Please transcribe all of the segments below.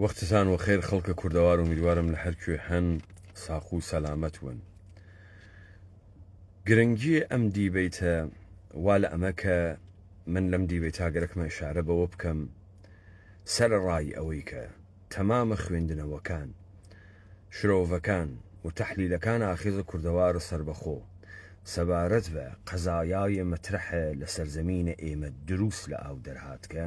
وەختتان وەخێر خەڵکە کوردەوار ومیروارم لە هەرکوێ هەن ساق و سەلامەت ون گرنگی ئەم دیبەیتە وا لە ئەمە کە من لەم دیبەیتا گەرەکمە ئشارە بەوە بکەم سەرەڕای ئەوەی کە تەمامە خوێندنەوەکان شرۆڤەکان و تەحلیلەکان ئاخیزە کوردەوارە سەربەخۆ سەبارەت بە قەزایاێ مەترەحە لە سەرزەمینە ئێمە دروست لە ئاو دەرهاتکە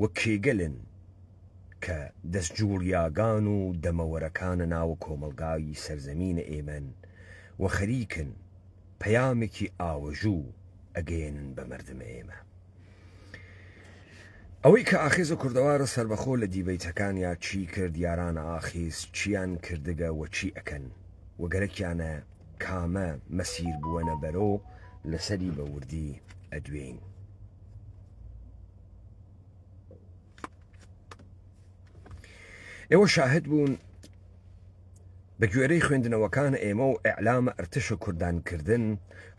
و کێگەلن کە دەس جوڵیاگان و دەمەوەرەکانە ناوە کۆمەڵگای سەرزەمینە ئێمەن و خەریکن پەیامێکی ئاوەژوو ئەگەیەنن بە مەردمە ئێمە. ئەوەی کە ئاخێزە کوردەوارە سەربەخۆ لە دیبەیتەکان یا چی کرد یارانە ئاخیز چیان کردگە و چی ئەکەن و گەرەکیانە کامە مەسیر بووەنە بەرۆ لەسەری بە وردی ئەدوێین. ئێوە شاهد بوون بە گوێرەی خوێندنەوەکان ئێمە و ئەعلامە ئەرتشە کوردانکردن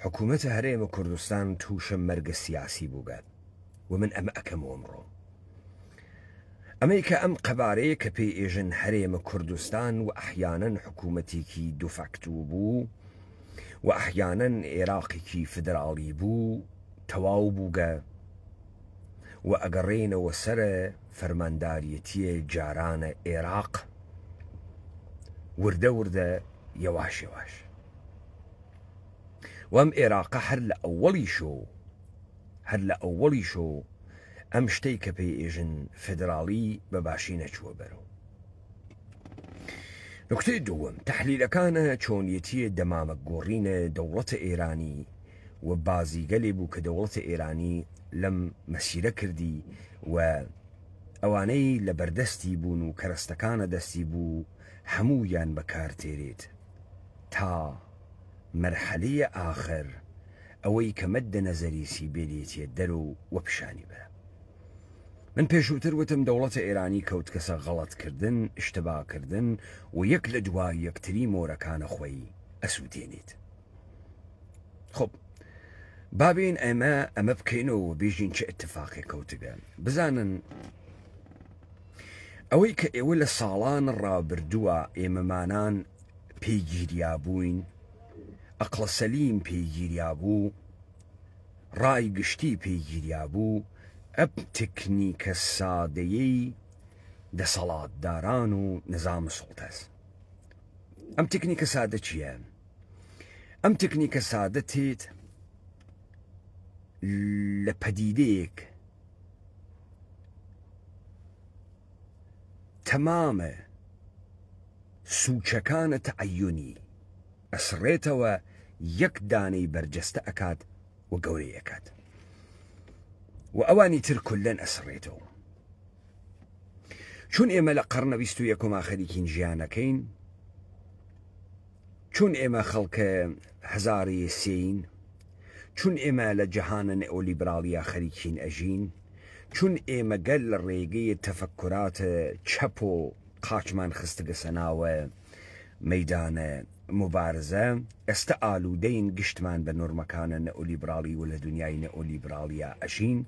حکوومەتە هەرێمە کوردستان تووشە مەرگە سیاسی بووگات و من ئەمە ئەەکەم ئەمڕۆ ئەمەی کە ئەم قەبارەیە کە پێی ئێژن هەرێمە کوردستان و ئەحیانەن حکوومەتێکی دوفاکتوو بوو و ئەحیانەن عێراقێکی فدراڵی بوو تەواو بووگە و ئەگەڕێینەوە سەر فەرمانداریەتیێ جارانە ئێراق وردە وردە یەواش یەواش وەم ئێراقە هەر لە ئەوەڵی شۆ هەر لە ئەوەڵی شۆ ئەم شتەی کە پێی ئێژن فدراڵی بە باشی نەچووە بەرەوە نکتەی دووەم تحلیلەکانە چۆنیەتیە دەمامە گۆڕینە دەوڵەتە ئێرانی و بازیگەلێ بوو کە دەوڵەتە ئێرانی لەم مەسیرە کردی و ئەوانەی لە بەردەستی بوون و کەرەستەکانە دەستی بوو هەموویان بە کار تێرێت تا مەرحەلەی ئاخر ئەوەی کە مەدە نەزەریسی بێلێتیە دەرو و پیشانی بەرە. من پێشووتر وتم دەوڵەتە ئێرانی کەوتکەسە غەڵەت کردن، ئشتبا کردن و یەک لە دوای یەکتری مۆرەکانە خۆی ئەسووتێنێت. خب بابین ئەمە ئەمە بکەین و بیژین چه اتفاقی کەوتگە بزانن ئەوەی کە ئێوە لە ساڵان ڕابردووە ئێمەمانان پێگیریا بووین ئەقلە سەلیم پێگیریا بوو ڕای گشتی پێگیریا بوو ئەپ تکنیکە سادەیەی دەسەڵاتداران و نظام سڵتەس ئەم تکنیکە سادە چییە؟ ئەم تکنیکە سادە تێت لە پەدیدەیەک تەمامە سوچەکانە تەعیۆنی ئەسڕێتەوە یەک دانەی بەرجەستە ئەکات و گەورەی ئەکات و ئەوانی تر کولەن ئەسڕێتەوە چون ئێمە لە قەرنە بیست و یەکۆما خەریکین ژیانەکەین چون ئێمە خەڵک هەزاری سێین چون ئێمە لە جەهانە نئۆلیبراڵیە خەریکین ئەژین چون ئێمە گەل لە ڕێگەی تەفەکورات چەپ و قاچمان خستگە سە ناوە مەیدانە موبارزە ئێستە ئالودەین گشتمان بە نۆرمەکانە نئۆلیبراڵی ولە دونیای نئۆلیبراڵیا ئەژین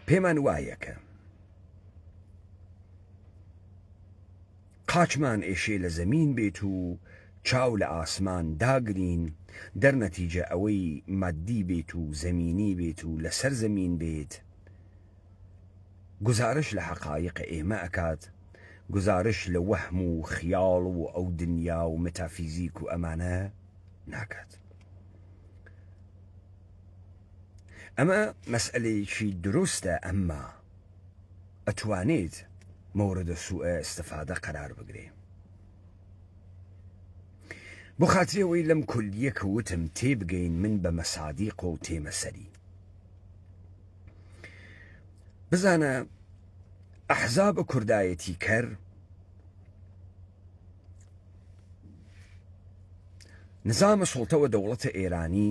پێمان وایە کە قاچمان ئێشێ لە زەمین بێت و چاو لە ئاسمان داگرین، دەرنەتیجە ئەوەی ماددی بێت و زەمینی بێت و لە سەر زەمین بێت، گوزارش لە حەقایق ئێمە ئەکات، گوزارش لە وەهم و خیاڵ و ئەو دنیا و متافیزیک و ئەمانە ناکات. ئەمە مەسئەلەیەکی دروستە، ئەمما. ئەتوانیت مورد سوء استفادە قەرار بگری بۆ خاتری ئەوەی لەم کولیە کە وتم تێبگەین من بە مەسادیق و تێمە سەری بزانە ئەحزاب کوردایەتی کەر نزامە سڵتەوە دەوڵەتە ئێرانی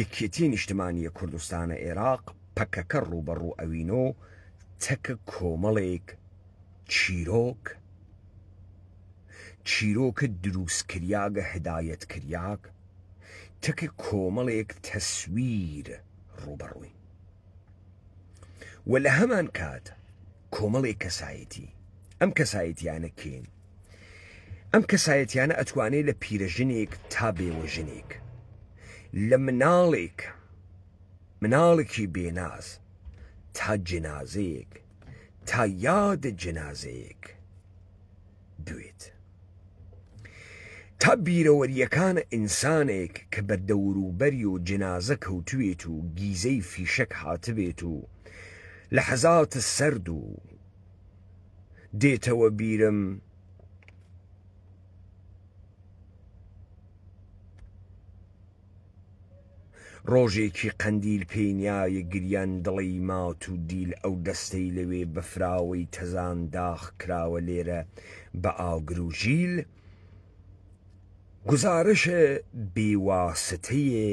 یەکێتی نیشتمانیە کوردستانە ئێراق پەکەکە ڕووبەڕوو ئەوینۆ تەکە کۆمەڵێک چیرۆک چیرۆکە درووسکریاگە هدایەتکریاگ تەکە کۆمەڵێک تەسویر ڕووبەڕووین و لە هەمان کات کۆمەڵێک کەسایەتی ئەم کەسایەتیانە کێن ئەم کەسایەتیانە ئەتوانێت لە پیرەژنێک تا بێوەژنێک لە مناڵێک مناڵێکی بێناز تا جنازەیەک تا یاد جنازەیەک دوێت تا بیرەوەریەکانە ئینسانێک کە بە دەوروبەری و جنازە کەوتوێت و گیزەی فیشەک هاتبێت و لە حەزاتە سرد و دێتەوە بیرم ڕۆژێکی قەندیل پێینایە گریان دڵی مات و دیل ئەو دەستەی لەوێ بەفراوەی تەزان داخ کراوە لێرە بە ئاگر و ژیل گوزارشە بێواسطەیێ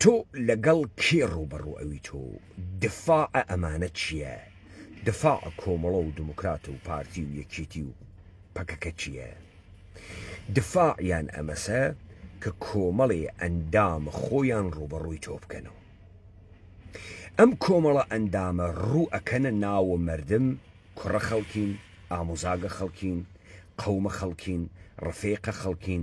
تۆ لەگەڵ کێ ڕووبەڕوو ئەویت و دفاع ئەمانە چییە؟ دفاع کۆمەڵە و دموکرات و پارتی و یەکێتی و پەکەکە چییە؟ دفاع یان ئەمەسە کە کۆمەڵێ ئەندام خۆیان ڕووبەڕووی تۆ بکەن و ئەم کۆمەڵە ئەندامە ڕوو ئەکەنە ناوە مەردم کوڕە خەڵکین، ئاموزاگە خەڵکین، قەومە خەڵکین، ڕفێقە خەڵکین،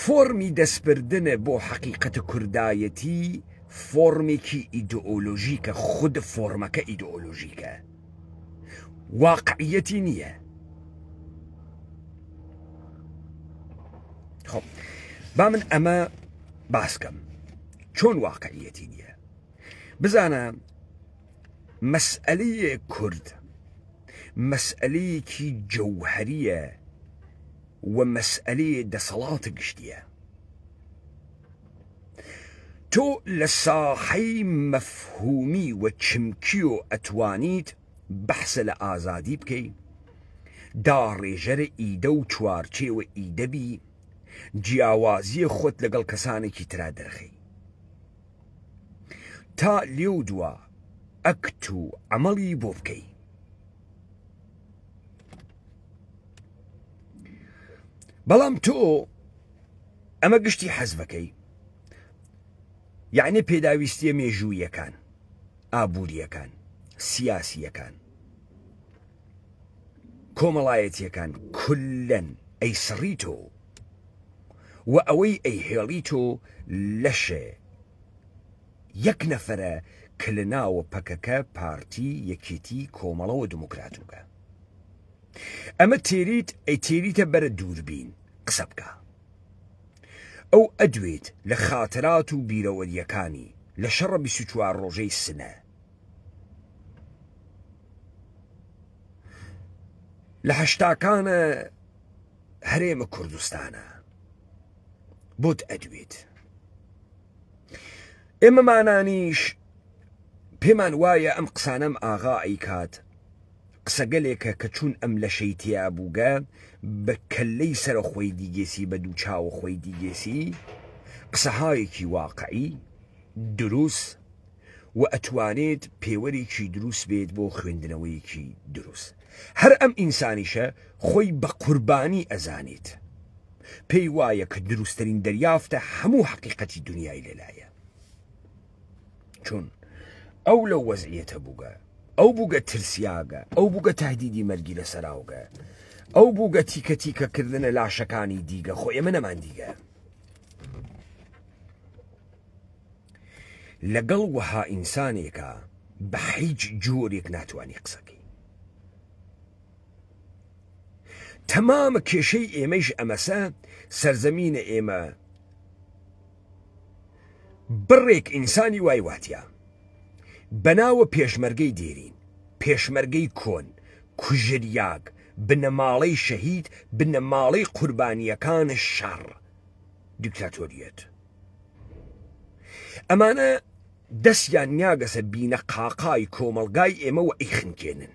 فۆرمی دەستبردن بۆ حەقیقەت کوردایەتی فۆرمێکی ئیدئۆلۆژیکە، خود فۆرمەکە ئیدئۆلۆژیکە، واقعیەتی نییە. خۆ با من ئەمە باسکەم چۆن واقعیەتی نییە بزانە مەسئلەیە کورد مەسئلەیەکی جەوهریە و مەسئەلەی دەسەڵاتە گشتیە تۆ لە ساحەی مەفهومی و چمکیۆ ئەتوانیت بەحسە لە ئازادی بکەی داڕێژەرە ئیدە و چوارچێوە ئیدە بی جیاوازیە خۆت لەگەڵ کەسانێکی ترا دەرخەی تا لێو دوا ئەکت و عەمەڵی بۆ بکەی. بەڵام تۆ ئەمە گشتی حەزبەکەی یعنی پێداویستیە مێژوویەکان ئابوووریەکان سیاسیەکان کۆمەڵایەتیەکان کلەن ئەی سڕی تۆ و ئەوەی ئەی هێڵی تۆ لەشێ یەک نەفەرە کە لە ناوە پەکەکە، پارتی، یەکێتی، کۆمەڵە و دموکرات و گە. ئەمە تێریت ئەی تێریتە بەرە دووربین قسە بکە. ئەو ئەدوێت لە خاترات و بیرەوەریەکانی لە شەڕە بیست و چوار ڕۆژەی سنە. لە هەشتاکانە هەرێمە کوردستانە بۆت ئەدوێت. ئێمەمانانیش پێمان وایە ئەم قسانەم ئاغا ئەیکات قسەگەلێکە کە چوون ئەم لەشەی تیا بووگە بە کەلەی سرە خۆی دیگێسی بە دوو چاوە خۆی دیگێسی قسەهایەکی واقعی دروست و ئەتوانێت پێوەرێکی دروست بێت بۆ خوێندنەوەیەکی دروست هەر ئەم ئینسانیشە خۆی بە قوربانی ئەزانێت پێی وایە کە دروستترین دەریافتە هەموو حەقیقەتی دنیای لێلایە چون ئەو لەو وەزعیەتە بووگە ئەو بووگە ترسیاگە ئەو بووگە تهدیدی مەرگی لە سەراوگە ئەو بووگە تیکە تیکە کردنە لاشەکانی دیگە خۆ ئێمە نەمان دیگە لەگەڵ وەها ئینسانێکە بە هیچ جۆرێک ناتوانانی قسەکەی تەمام کێشەی ئێمەیش ئەمەسە سەرزەمینە ئێمە بڕێک ئینسانی وای واتیا بەناوە پێشمەرگەی دێرین پێشمەرگەی کۆن کوژریاگ بنەماڵەی شەهید بنەماڵەی قوربانیەکان شەڕ دیکتاتۆریەت ئەمانە دەستیان نیاگەسە بینە قاقای کۆمەلگای ئێمە و ئیخنکێنن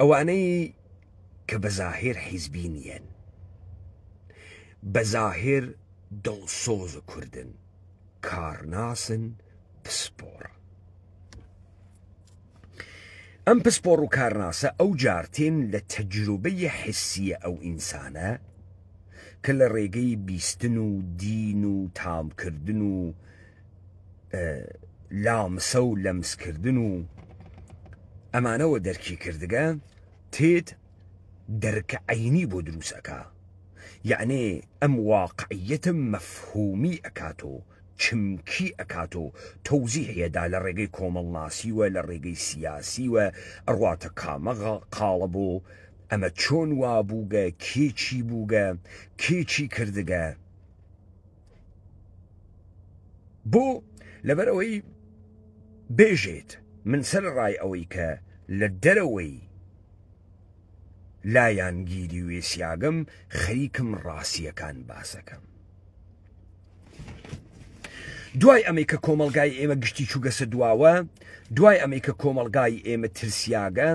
ئەوانەی کە بە زاهێر حیزبی نیەن بە زاهێر دڵسۆز و کوردن کارناسن پسپۆڕ ئەم پسپۆڕ و کارناسە ئەو جارتێن لە تەجروبەی حسیە ئەو ئینسانە کە لە ڕێگەی بیستن و دین و تامکردن و لامسە و لەمسکردن و ئەمانەوە دەرکی کردگە تێت دەرکە عینی بۆ دروست ئەکا یعنێ ئەم واقعیەتە مەفهومی ئەکات و چمکی ئەکات و تەوزیحیەدا لە ڕێگەی کۆمەڵناسیوە لە ڕێگەی سیاسیوە ئەڕاتە کامەغا قاڵە بۆ ئەمە چۆن وابووگە کێچی بووگە کێچی کردگە بۆ لەبەر ئەوەی بێژێت من سەر ڕای ئەوەی کە لە دەرەوەی لایەنگیری وێسیاگەم خەریکم ڕاستیەکان باسەکەم دوای ئەمەی کە کۆمەلگای ئێمە گشتی چووگەسە دواوە دوای ئەمەی کە کۆمەلگای ئێمە ترسیاگە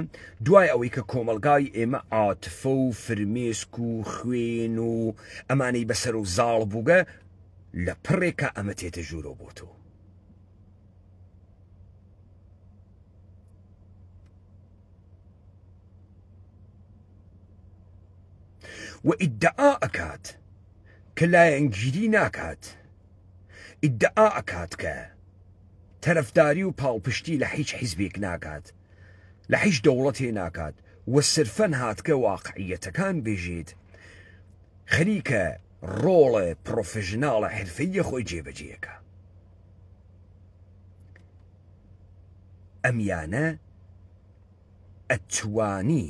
دوای ئەوەی کە کۆمەلگای ئێمە عاتفە و فرمێسک و خوێن و ئەمانەی بەسەرو زاڵ بوگە لە پڕێکا ئەمە تێتە ژورەو بۆتۆ و ئیدعا ئەکات کە لایەنگیری ناکات ئیدعا ئەکات کە تەرەفداری و پاڵپشتی لە هیچ حیزبێک ناکات لە حیچ دەوڵەتێ ناکات و سرفەن هاتگە واقعیەتەکان بێژێت خەریکە ڕۆڵە پڕۆفژناڵە حرفەییە خۆی جێبەجێەکە ئەمیانە ئەتوانی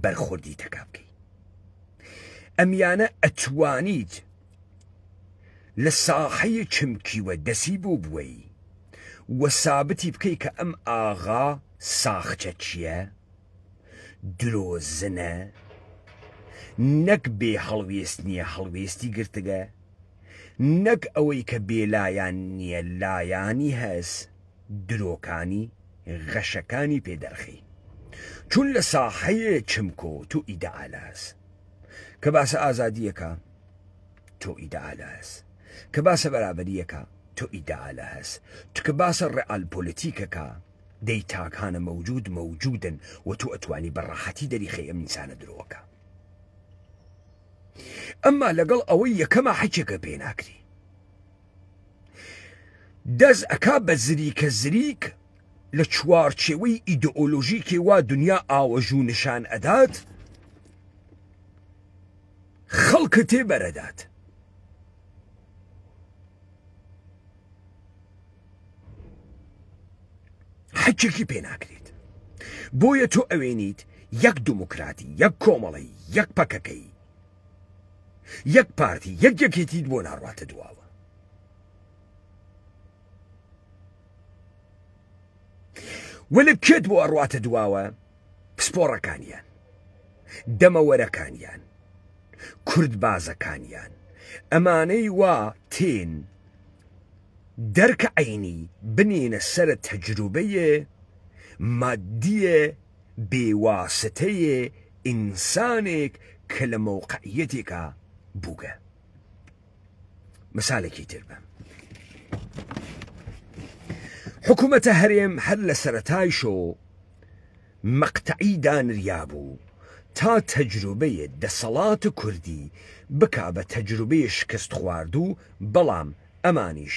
بەرخۆردی تەکا بکەیت ئەمیانە ئەتوانیت لە ساحەی چمکیوە دەسی بۆ بوەی و سابتی بکەی کە ئەم ئاغا ساخچەچیە درۆزنە نەک بێ هەڵوێست نیە هەڵوێستی گرتگە نەک ئەوەی کە بێ لایان نیە لایانی هەس درۆکانی غەشەکانی پێ دەرخی چون لە ساحەی چمکۆ تو ئیدەئالاس کە باسە ئازادیەکە تۆ ئیدعا لە هەس کە باسە بەرابەریەکە تۆ ئیدعا لە هەس تکە باسە ڕئال پۆلیتیکەکە دەی تاکانە مەوجود مەوجودن و تۆ ئەتوانی بە ڕەحەتی دەریخی ئەم ئینسانە درۆکە ئەمما لەگەڵ ئەوەی یەکەمە حەکێکە پێناکری دەست ئەکا بە زریکە زریک لە چوارچێوەی ئیدئۆلۆژیکێ وا دنیا ئاوەژوو نیشان ئەدات خەڵکە تێ بەرەدات حەچێکی پێ ناکرێت بۆیە تۆ ئەوێنیت یەک دموکراتی یەک کۆمەڵی یەک پەکەکەی یەک پارتی یەک یەکێتیت بۆ ناڕواتە دواوە وەلێ کێت بۆ ئەڕواتە دواوە پسپۆڕەکانیان دەمەوەرەکانیان کورد بازەکانیان ئەمانەی وا تێن دەرکە عینی بنینە سرە تەجروبەیە مادیە بێ واسطەیێ ئینسانێک کە لە مەوقعیەتێکا بووگە. مسالێکی تر بە. حکوومەتە هەرێم هەر لە سەرەتایشۆ مەقتەعی دانریا بوو تا تەجروبەیە دەسەڵات و کوردی بکا بە تەجروبەیە شکست خواردوو بەڵام ئەمانیش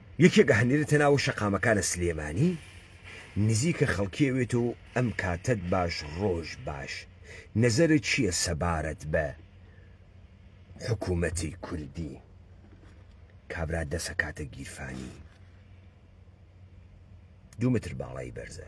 یەکێک ئەهنێرێتە ناوە شەقامەکانە سلێمانی نزیکە خەڵکی ئەوێتەو ئەم کاتەت باش ڕۆژ باش نەزەرت چیە سەبارەت بە حکومەتی کوردی کابرا دەسە کاتە گیرفانی دوو متر باڵای بەرزە.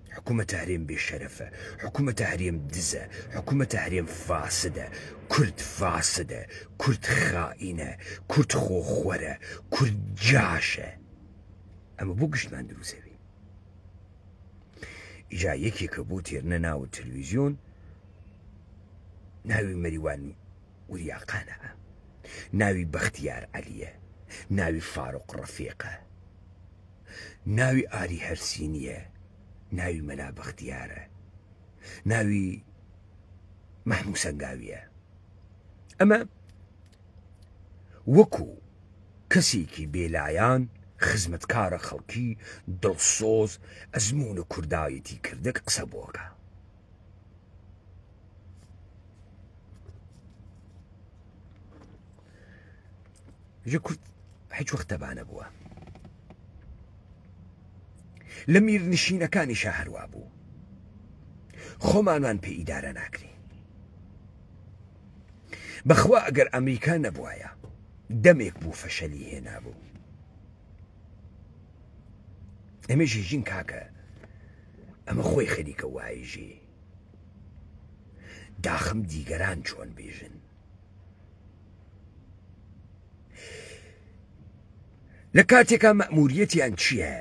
حکومەتە هەرێم بێ شەرەفە حکومەتە هەرێم دزە حکومەتە هەرێم فاسدە کورد فاسدە کورد خائینە کورد خۆ خۆرە کورد جاشە ئەمە بۆ گشتمان دروزەبێ ئیجا یەکێکە بۆ تێرنە ناوە تەلویزیۆن ناوی مەریوان وریاقانە ناوی بەختیار عەلیە ناوی فاروق ڕەفێقە ناوی ئاری هەرسی نییە ناوی مەلا بەختیارە ناوی مەحموو سەنگاویە ئەمە وەکو کەسێکی بێلایەن خزمەتکارە خەڵکی دڵسۆز ئەزمونە کوردایەتی کردەک قسە بۆکە کورد هیچ وەختەبانە بووە لە میرنشینەکانی شە هەروە بوو خۆمانمان پێ ئیدارە ناکرین بەخوا ئەگەر ئەمریکا نەبوایە دەمێک بوو فەشەلی هێنابوو ئەمەژی ژین کاکە ئەمە خۆی خەریکە وایژی داخم دیگەران چۆن بێژن لە کاتێکا مەموریەتیان چییە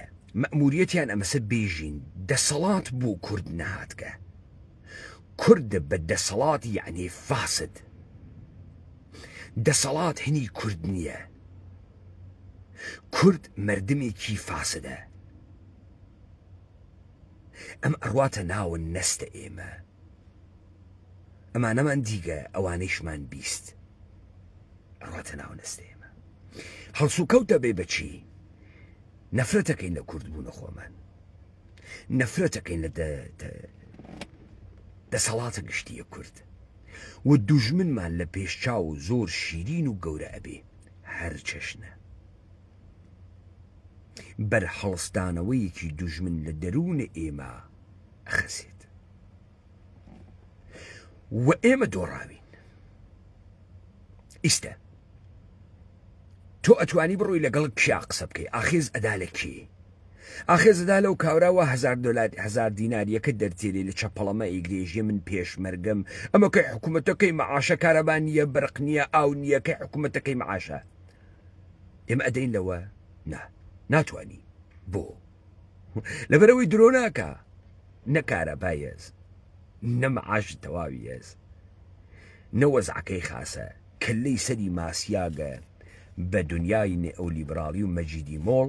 مەموریەتیان ئەمەسە بێژین دەسەڵات بوو کورد نهاتکە کورد بە دەسەڵات یعنی فاسد دەسەڵات هەنی کورد نییە کورد مردمێکی فاسدە ئەم ئەڕواتە ناوە نەستە ئێمە ئەمانەمان دیگە ئەوانەیشمان بیست ئەڕاتە ناو نەستە ئێمە هەڵسوکەوت دەبێ بەچی نەفرەتەکەین لە کورد بوونە خۆمان نەفرەتەکەین لە دەسەڵاتە گشتیە کورد و دوژمنمان لە پێشچاو و زۆر شیرین و گەورە ئەبێ هەرچەشنە بەرهەڵستانەوەیەکی دوژمن لە دەروونە ئێمە ئەخەسێت و ئێمە دۆڕاوین ئیستا تۆ ئەتوانی بڕۆی لەگەڵ کیا قسە بکەی ئاخێز ئەدا لە کێ ئاخێ زەدا لەو کاورا وا هەزار دۆلار هەزار دینار یەکە دەرتێری لە چەپەڵەمە ئیگرێژیە من پێشمەرگەم ئەمە کەی حکوومەتە کەی مەعاشە کارەبا نییە بەرق نییە ئاو نییە کەی حکوومەتەکەی مەعاشە ئێمە ئەدەین لەوە نا ناتوانی بۆ لەبەرەوەی درۆ ناکە نەکارە بایەز نەمەعاش تەواویەز نەوەزعەکەی خاسە کە لی سەری ماسیاگە بە دنیای نێ ئەو لیبراڵی و مەجیدی مۆڵ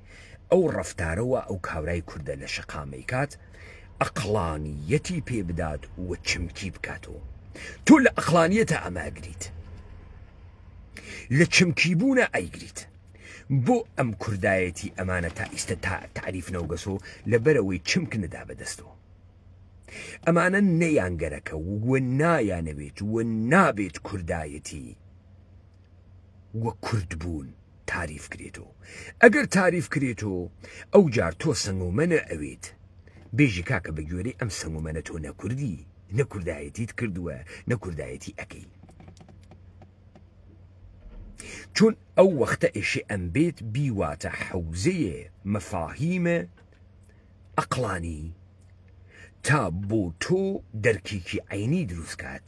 بکەی ئەو ڕەفتارە وا ئەو کابرای کوردە لە شەقامەی کات ئەقڵانیەتی پێ بدات و چمکی بکاتەوە تۆ لە ئەقلانیەتە ئەمە ئەگریت لە چمکی بوونە ئەیگریت بۆ ئەم کوردایەتی ئەمانە تا ئیستا تا تعریف نەوگەسۆ لە بەرەوەی چمک نەدا بەدەستەوە ئەمانە نەیانگەرەکە وە نایانەوێت وە نابێت کوردایەتی وە کورد بوون تاریف کرێتۆ ئەگەر تاریف کرێتۆ ئەو جار تۆ سەنگۆمەنە ئەوێت بێژی کاکە بە گوێرەی ئەم سەنگۆمەنە تۆ نەکوردی نە کوردایەتیت کردووە نە کوردایەتی ئەەکەی چون ئەو وەختە ئێشێ ئەم بێت بیواتە حەوزەیە مەفاهیمە ئەقلانی تا بۆ تۆ دەرکێکی عینی دروستکات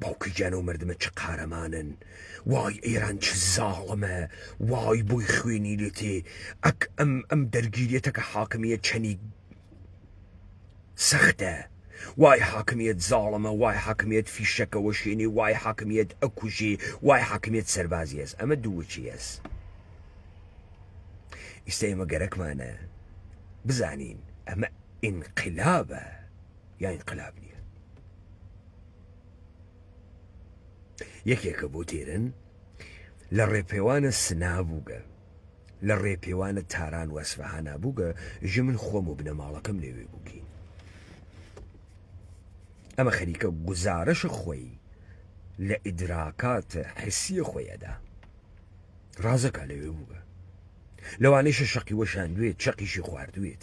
باوکی گیان ئەو مردمە چ قارەمانن وای ئێران چ زاڵمە وای بۆی خوێنی لێتێ ئەک ئەم ئەم دەرگیرێتەکە حاکمیە چەنی سەختە وای حاکمیت زاڵمە وای حاکمیت فیشەکەەوە شوێنی وای حاکمیت ئەکوژی وای حاکمیت سەربازی هەست ئەمە دووچی هەست ئیستا ئێمە گەرەکمانە بزانین ئەمە ئینقلابە یاین قلاب نیە یەکێکە بۆ تێرن لە ڕێپێوانە سنا بووگە لە ڕێپێوانە تاران وەسفەهانا بووگە ژە من خۆم و بنەماڵەکەم لەوێ بووکین ئەمە خەریکە گوزارش خۆی لە ئیدراکات حسیە خۆی ئەدا ڕازەکە لەوێ بووگە لەوانەیشە شەقی وەشاندوێت چەقیشی خواردوێت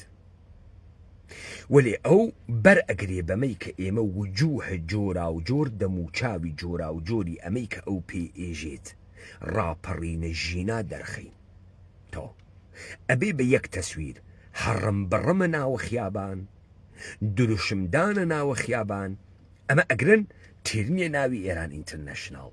وەلێ ئەو بەر ئەگرێ بەمەی کە ئێمە وجووه جۆراوجۆر دەموچاوی جۆراوجۆری ئەمەی کە ئەو پێی ئێژێت ڕاپەڕینە ژینا دەرخەین. تۆ ئەبێ بە یەک تەسویر، هەڕمبڕمە ناوە خیابان، دروشمدانە ناوە خیابان، ئەمە ئەگرن تیرنیە ناوی ئێران ئینترنەشناڵ،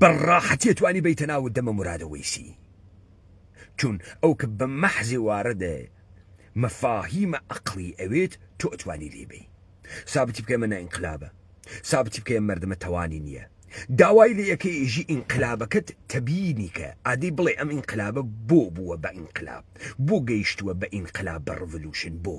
بە ڕاحەتی توانی بیتە ناو دەمە مرادە وەیسی چون ئەو کە بە مەحزی واردە مەفاهیمە ئەقڵی ئەوێت تۆ ئەتوانی لێی بەی سابتی بکەی مە نە ئینقلابە سابتی بکەی مەردمە تەوانی نییە داوای لێ ئەکەی ئیژی ئینقلابەکەت تەبینی کە ئادی بڵێ ئەم ئینقلابە بۆ بووە بە ئینقلاب بۆ گەیشتووە بە ئینقلاب بە ڕڤلوشن بۆ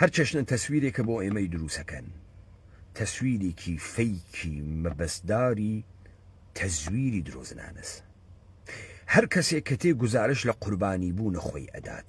هەر چەشنە تەسویرێکە بۆ ئێمەی دروستەکەن تەسویرێکی فەیکی مەبەستداری تەزویری درۆزنانەس هەر کەسێک کە تێ گوزارش لە قوربانی بوو نەخۆی ئەدات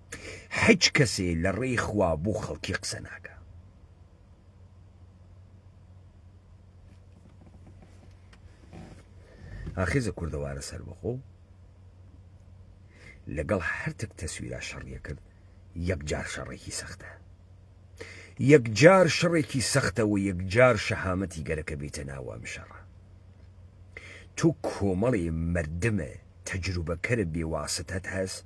حیچ کەسێ لە ڕێی خوا بو خەڵکی قسە ناکا. ئاخێزە کوردەوارە سەربەخۆ لەگەڵ هەرتک تەسویرا شەڕیە کرد یەکجار شەڕێکی سەختە یەکجار شەڕێکی سەختەوە یەکجار شەهامەتی گەرەکە بێتە ناوام شەڕە تو کۆمەڵی مردمە تەجروبەکەرە بێواسەتەت هەست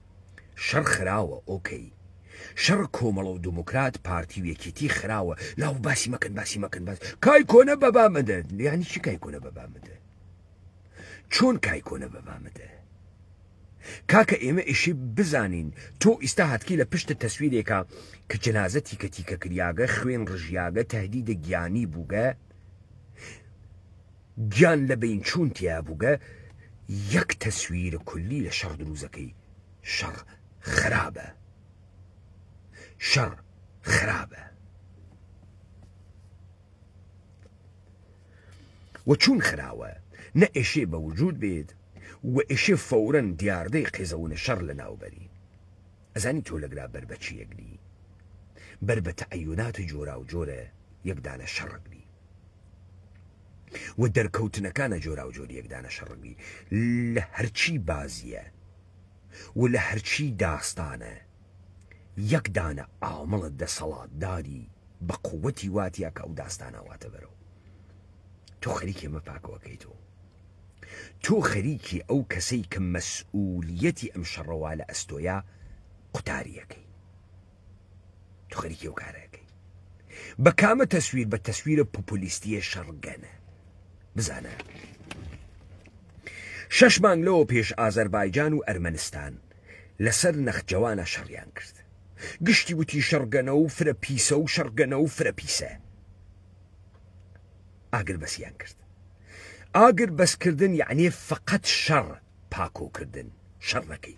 شەڕ خراوە ئۆکەی شەڕ کۆمەڵە و دموکرات پارتی و یەکێتی خراوە لاو باسی مەکەن باسی مەکەن باس کای کۆنە بەبا مەدە یانی چی کای کۆنە بەبا مەدە چۆن کای کۆنە بەبا مەدە کاکە ئێمە ئیشی بزانین تۆ ئیستا هاتکی لە پشتە تەسویرێکە کە جەنازە تیکە تیکە کریاگە خوێن ڕژیاگە تهدیدە گیانی بووگە گیان لە بین چوون تیا بووگە یەک تەسویر کولی لە شەڕ دروزەکەی شەڕ خرابە شەڕ خرابە و چوون خراوە نە ئێشێ بە وجود بێت و ئێشێ فەورەن دیاردەی قێزەونە شەڕ لە ناوبەری ئەزانی تۆ لەگرا بەربەچی یەگری بەر بە تەعەیونات جۆرا و جۆرە یەکدانە شەڕگری و دەرکەوتنەکانە جۆراوجۆری یەک دانە شەڕگی لە هەرچی بازیە و لە هەرچی داستانە یەک دانە ئامڵە دەسەڵاتداری بە قوەتی واتیە کە ئەو داستانە واتە بەرەو تۆ خەریکی ئەمە پاکەوە کەیتەوە تۆ خەریکی ئەو کەسەی کە مەسئولیەتی ئەم شەڕەوا لە ئەستۆیە قوتاریەکەی تو خەریکی ئەو کارەکەی بە کامە تەسویر بە تەسویرە پوپولیستیە شەڕگەنە بزانە شەش مانگ لەوە پێش ئازەربایجان و ئەرمەنستان لەسەر نەخجەوانە شەڕیان کرد گشتی وتی شەڕگەنە و فرە پیسە و شەڕگەنە و فرە پیسە ئاگر بەسیان کرد ئاگر بەسکردن یعنی فقط شەڕ پاکۆکردن شەڕەکەی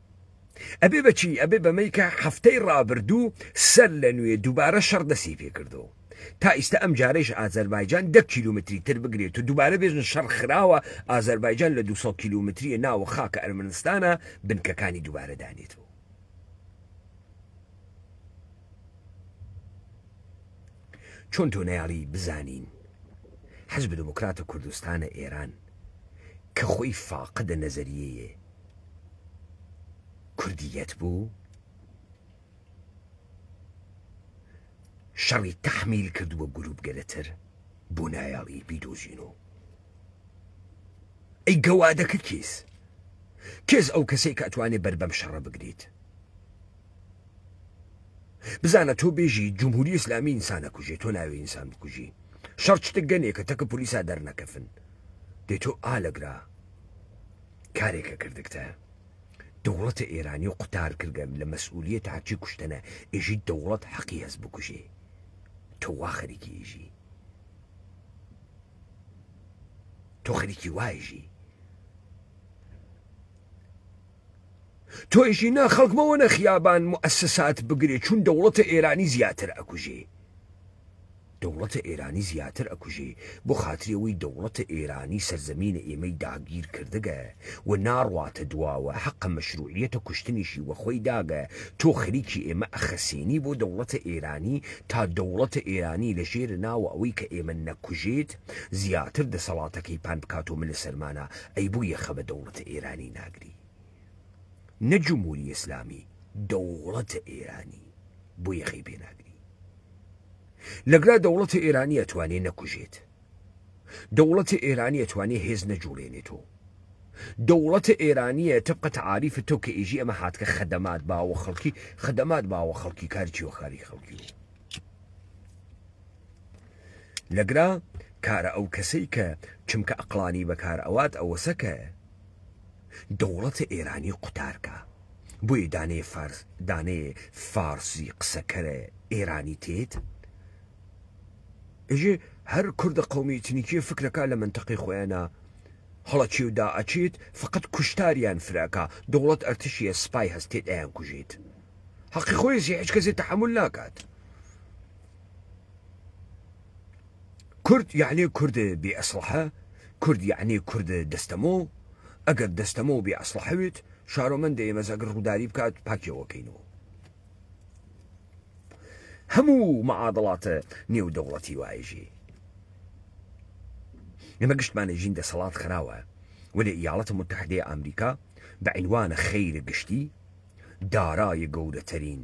ئەبێ بەچی ئەبێ بەمەی کە هەفتەی ڕابردوو سەر لە نوێ دووبارە شەڕ دەسی پێکردو تا ئیستا ئەم جارەیش ئازەربایجان دە کیلومتری تر بگرێت و دووبارە بێژن شەڕ خراوە ئازەربایجان لە 200 کیلومتریە ناوە خاکە ئەرمنستانە بنکەکانی دووبارە دانێتەوە چۆن تۆ نەیاڵی بزانین حزب دموکرات و کوردستانە ئێران کە خۆی فاقدە نەزەریەیە کوردیت بوو؟ شەڕی تەحمیل کردووە گروپ گەلەتر بۆ نایاڵی بیدۆزین و ئەی گەوادەکە کیس کێز ئەو کەسێک ئەتوانێ بەر بەم شەڕە بگریت بزانە تۆ بێژی جمهوری ئسلامی ئینسانە کوژێ تۆ ناوی ئینسان بکوژی شەڕ شتە گەنێکە تەکە پلیسا دەرنەکەفن دێ تۆ ئالەگرا کارێکە کردگتە دەوڵەتە ئێرانی و قوتار کردگەم لە مەسئولیەت هەرچی کوشتەنە ئێژی دەوڵەت حەقی هەس بکوژێ تۆ وا خەریکی ئێژی تۆ خەریکی وایژی تۆیشی نا خەڵکمەوە نە خیابان موئسسات بگرێ چون دەوڵەتە ئێرانی زیاتر ئەکوژێ دەوڵەتە ئێرانی زیاتر ئەکوژێ بۆ خاتری ئەوەی دەوڵەتە ئێرانی سەرزەمینە ئێمەی داگیر کردگە و ناڕواتە دواوە حەقە مەشروعیەتە کوشتنیشی وە خۆی داگە تۆ خریکی ئێمە ئەخەسێنی بۆ دەوڵەتە ئێرانی تا دەوڵەتە ئێرانی لە ژێرە ناوە ئەوەی کە ئێمە نەکوژێت زیاتر دەسەڵاتەکەی پان بکاتۆ ملە سەرمانا ئەی بۆ یەخە بە دەوڵەتە ئێرانی ناگری نە جمهوری ئیسلامی دەوڵەتە ئێرانی بۆ یەخەی پێناگری لەگرا دەوڵەتە ئێرانی ئەتوانێ نەکوژێت دەوڵەتە ئێرانی ئەتوانێ هێز نەجوڵێنێتۆ دەوڵەتە ئێرانیە تبقە تعاریف تۆ کە ئێژی ئەمە هاتکە خەدەمات باوە خەڵکی خەدەمات باوە خەڵکی کارچی و خاوی خەڵکی و لەگرا کارە ئەو کەسەی کە چمکە ئەقلانی بەکار ئەوات ئەوەسەکە دەوڵەتە ئێرانی قوتارکا بۆیە دانەیە فارس دانەیە فارسی قسەکەرە ئێرانی تێت ئێژێ هەر کوردە قەومی ئیتنیکیە فکرەکە لە منتەقەی خۆیانە هەڵەچێ و داعەچێت فقط کوشتاریان فراکە دەوڵەت ئەرتشیە سپای هەستێت ئەیان کوژێت حەقی خۆیزی هیچ کەسێت تحمل ناکات کورد یەعنی کورد بێ ئەسڵەحە کورد یەعنی کورد دەستەمۆ ئەگەر دەستەمۆ بێ ئەسڵەحە وێت شارۆمەندە ئێمەز ئەگەر ڕووداری بکات پاکیەوە کەینەوە هەموو مەعادڵاتە نێو دەوڵەتی وایژێ ئێمە گشتمانە ژین دەسەڵات خراوە وەێ ئیاڵەتە متحدەیە ئەمریکا بە عینوانە خەیرە گشتی دارای گەورەترین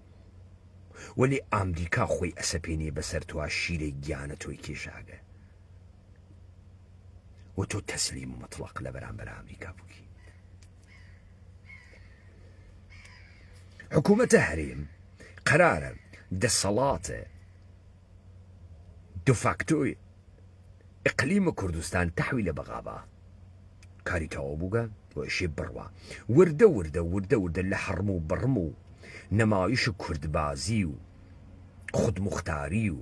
وەلێ ئامریکا خۆی ئەسەپێنێ بەسەر تۆا شیرەی گیانە تۆی کێشاگە و تۆ تەسلیم مطلق لە بەرامبەر ئامریکا بکی حکوومەتە هەرێم قەرارە دەسەڵاتە دفاکتۆی اقلیم کردستان تحویل بغابا کاری تەواو بووگە و ئیشی بڕوا وردە وردە وردە وردە لە حڕم و بڕم و نەمایش و کوردبازی و خودمختاری و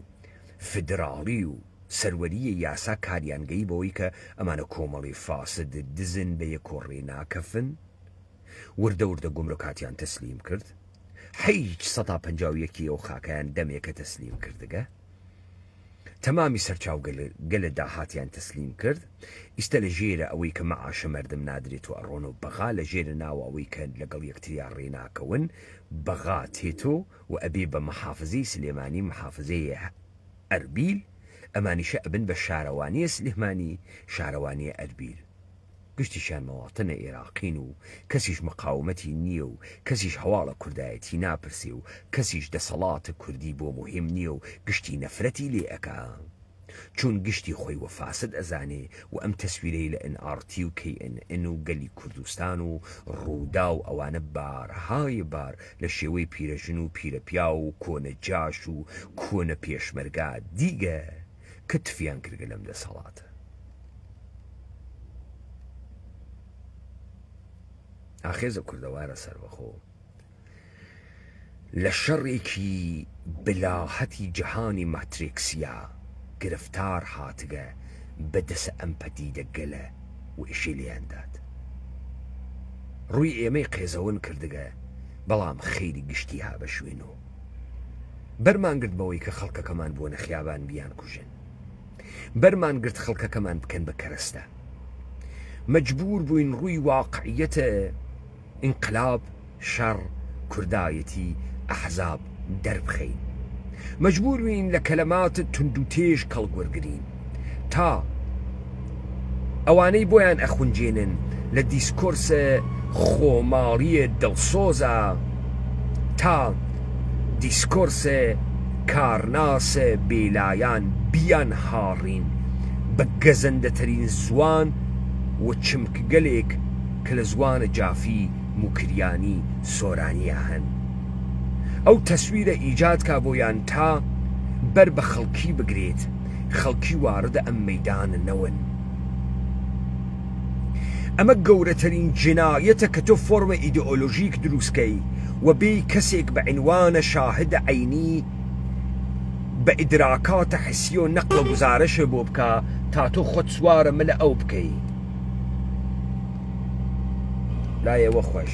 فدراڵی و سەروەریی یاسا کاریان گەی بەوەی کە ئەمانە کۆمەڵی فاسد دزن بە یەک و ڕێ ناکەفن وردە وردە گومرکاتیان تەسلیم کرد حیج سەتا پەنجا و یەکی ئەو خاکەیان دەمێکە تەسلیم کردگە تەمامی سەرچاو گەلە داهاتیان تەسلیم کرد ئیستە لە ژێرە ئەوەی کە مەعاشە مەردم نادرێت و ئەڕۆن و بەغا لە ژێرە ناوە ئەوەی کە لەگەڵ یەکتریا ڕێ ناکەون بەغا تێتۆ و ئەبێ بە مەحافزەی سلێمانی مەحافزەیێ ئەربیل ئەمانیشە ئەبن بە شارەوانیێ سلێمانی شارەوانیێ ئەربیل گشتیشیان مواطنە ئێراقین و کەسیش مقاومەتی نییە و کەسیش هەواڵە کوردایەتی ناپرسێ و کەسیش دەسەڵاتە کوردی بۆ موهیم نییە و گشتی نەفرەتی لێ ئەکا چوون گشتی خۆی وە فاسد ئەزانێ و ئەم تەسویرەی لە ئن ئاڕ تی و کەی ئن ئن و گەلی کوردستان و ڕووداو ئەوانە بارهایێ بار لە شێوەی پیرەژن و پیرەپیاو و کۆنە جاش و کۆنە پێشمەرگا دیگە کە تفیان کردگە لەم دەسەڵاتە. ئاخێزە کوردەوارە سەربەخۆ لە شەڕێکی بلاهەتی جەهانی ماتریکسیا گرفتار هاتگە بە دەسە ئەم پەدیدە گەلە و ئیشی لێیان دات. ڕووی ئێمەی قێزەون کردگە بەڵام خیری گشتی هابە شوێن و بەرمان گرت بەوەی کە خەڵکەکەمان بووەنە خیابان بیانکوژن بەرمان گرت خەڵکەکەمان بکەن بە کەرەستە مەجبور بووین ڕووی واقعیەتە ئینقلاب شەڕ کوردایەتی ئەحزاب دەربخەین مەجبور بووین لە کەلەمات توندوتێژ کەڵک وەرگرین تا ئەوانەی بۆیان ئەخونجێنن لە دیسکۆرسە خۆماڵیە دڵسۆزە تا دیسکۆرسە کارناسە بێلایان بیان هاڕین بە گەزەندەتەرین زوان و چمکگەلێک کە لە زوانە جافی موکریانی سۆرانیە هەن ئەو تەسویرە ئیجاد کا بۆیان تا بەر بە خەڵکی بگرێت. خەڵکی واردە ئەم مەیدانە نەون ئەمە گەورەترین جنایەتە کە تۆ فۆرمە ئیدئۆلۆژیک دروستکەی و بێی کەسێک بە عنوانە شاهدە عەینی بە ئیدراکاتە حسیە و نەقڵە گوزارەشێ بۆ بکا تا تۆ خۆت سوارە ملە ئەو بکەی لایەوە خۆش.